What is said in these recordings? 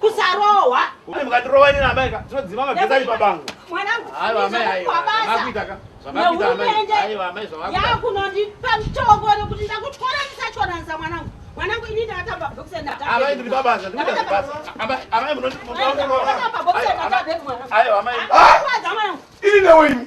kusarohwa kune mukatirohwa ini naamai ka tinodzima magezi ari pabango mwanangu yakunondipa mutongo nekuti ndakutwara ndisachoranisa mwanangu mwanangu ini ndakatamba bhokisi amai ndiri pabasa amai munondiaa mwanangu ini newe imi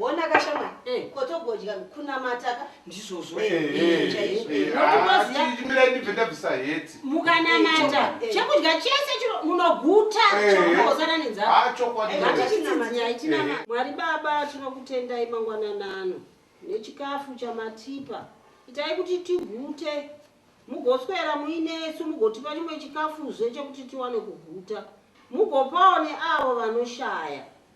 wonaka shamwari eh. ko togodya kunamataka ndizvozvo chaizvoimirai ndibve ndabvisa heti mukanamata eh, eh. chekudya chese chiro munoguta chokosana nenzaaaitinama mwari baba tinokutendai mangwananano nechikafu chamatipa itai kuti tigute mugoswera muinesu mugotipa chimwe chikafuzve chekuti tiwane kuguta mugopawo neavo vanoshaya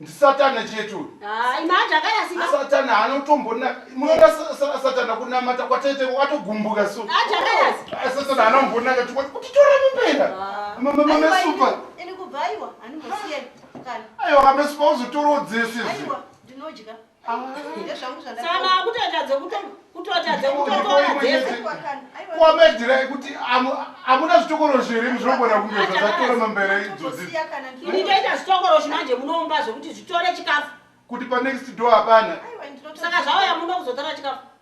ndisatana chete uyu satana anotombona munoona satana kunamata kwatete atogumbuka so satana anombonaka tikoti kuti tora mupera mamesupa aiwa mamesupa uzotorodze sezvi kwamedhirai kuti amuna zvitokorosho here muzvinogona kunge zvazatora mambera idzodzitoita zvitokoroshi manje munoumba zvekuti zvitore chikafu kuti panext do hapana saka zvauya muno kuzotora chikafu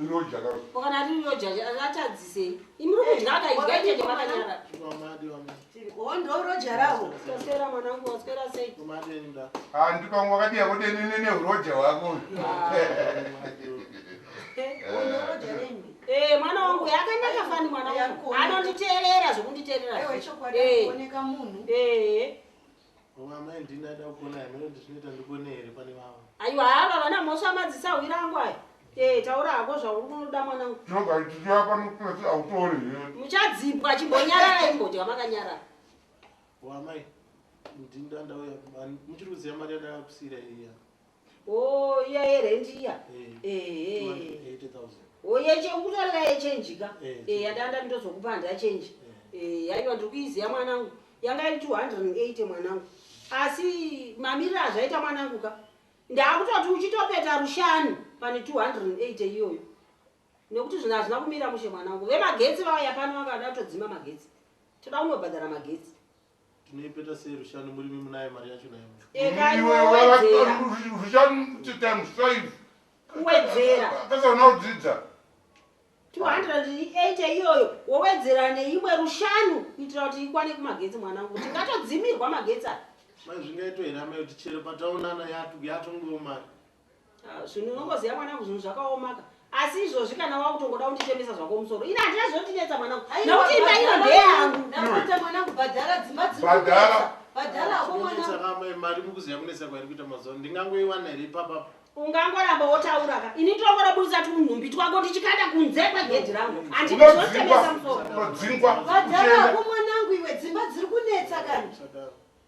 Iroja ka. Kana ari iroja atadzise. Imi muri kudya akaidya ite nemakanyara. Oh ndo roja rawo. Tosera mwana wangu waswera sei? Ah ndipo wakadiya kuti ini nene uroja wako. Eh mwana wangu yakanaka fani mwana wangu. Anonditeerera zvokunditeerera. Eh chokwadi kuoneka munhu. Eh. Mama amai ndini ada kuona here kuti zvinoita ndikone here pane vavo. Aiwa haa baba na mhosva madzisa hwira angu aya. Eh taura hako zvauri kunoda mwanangu. Nonga ichichi apa nopesi autori here. Muchadzipwa chimbonyarara imbodya makanyarara. Wa amai ndini ndandauya muchiri kuziva mari yandakakusira iya. Oh, iya yerent iya. Eh. Oh, yeche ukutorera yechange ka. Eh, yadanda nditozokupa handa change. Eh, yaiwa ndiri kuiziya mwanangu. Yanga iri 280 mwanangu. Asi mamirira azvaita mwanangu ka. Ndakutoti uchitopeta rushani pane 280 iyoyo. Nekuti zvina zvina kumira mushe mwanangu. Vemagetsi vaya pano vakada todzima magetsi. Toda kunobhadhara magetsi. Tinoipeta sei rushanu murimi munayo mari yacho nayo. Eka iwe wedzera. Rushanu times 5. Kuwedzera. Kasa unodzidza. 208 iyoyo wowedzera neimwe rushanu kuitira kuti ikwane kumagetsi mwanangu tingatodzimirwa magetsi aya. Mai zvingaito here amai kuti chero pataonana yatongowo mari. Ah, zvinhu unongoziva mwanangu zvinhu zvakaomaka asi izvozvi kana wakutongoda kundichemesa zvako musoro ini handina zvinondinetsa mwanangu nokuti imba ino ndeyangu ndapota mwanangu bhadhara dzimba dzibhadhara bhadhara ako mwanangu mari mukuziva kunetsa kwairi kuita mazuva ndingangoiwana here ipapapa ungangoramba wotaura ka ini tongorabudisa tunhumbi twako tichikanda kunze kwegedhi rangu andizvinotemesa musoro unodzingwa bhadhara ako mwanangu iwe dzimba dziri kunetsa kani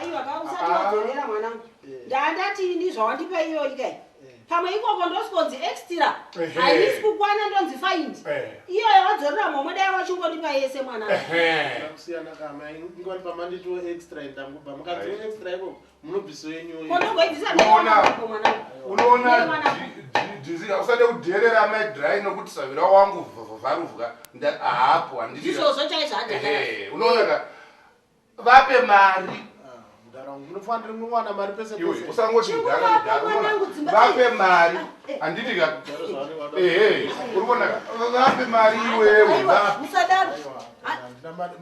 aiwa ka usati wadzorera mwanangu ndandati ini zvawandipa iyoyi kai pamwe ikoko ndosikonzi extra haisi kukwana ndonzi faindi iyoyo wadzorera momwe dai wachingondipa yese mwanangu munobviso yenyu unoona dizi usade kudherera amai dry nokuti savira wangu vharuvwa haapo handiunoonaka vape mari usangotivape mari handitika ehe uri kuona vape mari iwewe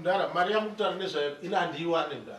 mdara mari yamutara nezvayo ina handiiwane mdara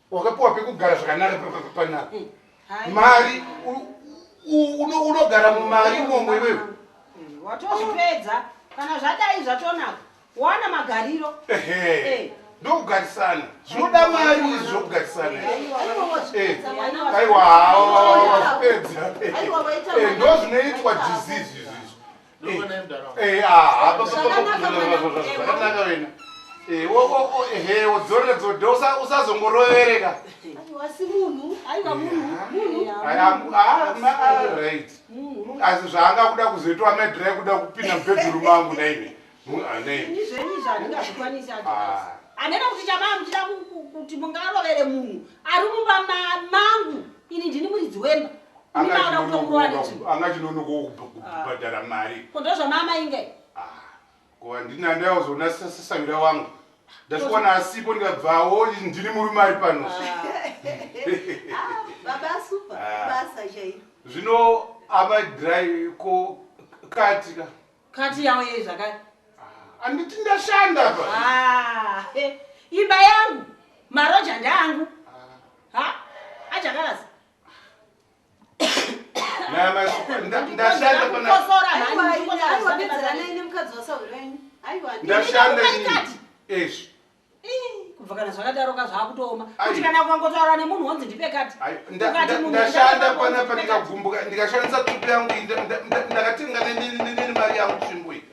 wakapiwa pekugara zvakanaka panapa hmm. mari unogara mumari imomo iwewe hmm, watozvipedza kana zvadai zvatonaka wana magariro eh. ndokugarisana zvinoda mari izvi zvokugarisana eh. aiwa hawo wazvipedza eh. ndozvinoitwa disease usazongorovereka asi zvaanga kuda kuzoitwa medra kuda kupinda mubedroom angu naive anena kuti chamaa muchida kuti mungarovere munhu ari mumba mangu ini ndini muridzi wemba anga chinonokowo kubhadhara ah. mari ko ndozvamama inge ah, ko handina ndaozoona sasavira wangu ndasvikowana asipo ndikabvawo ndiri murume ari pano zvino amadry ko kati ka kati yawo yei zvakati ah, anditi ndashanda pa ah, eh, imba yangu maroja ndangu ah. ha ajakarasa kubva kana zvakadaroka zvakutooma kuti kana ukangotaura nemunhu wonzi ndipe kati ndashanda kwana pandikagumbuka ndikashandisa tupi yangu ndakatenga neni mari yangu tsvimbo iyi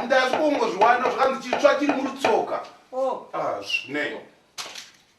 ndazvikuongozviwana zvakanzi chitsva chiri murutsoka oh. ah, zvine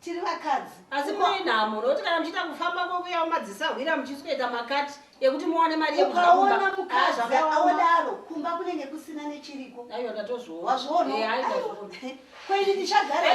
tiri vakadzi asi mune nhamo nokuti kana muchiita kufamba kwokuya mumadzisa hwira muchisukaita makati ekuti muwane mari yekuaona mukadzi aodaro kumba kunenge kusina nechiriko aiwa ndatozviona wazviona eh, kwaini ndichagara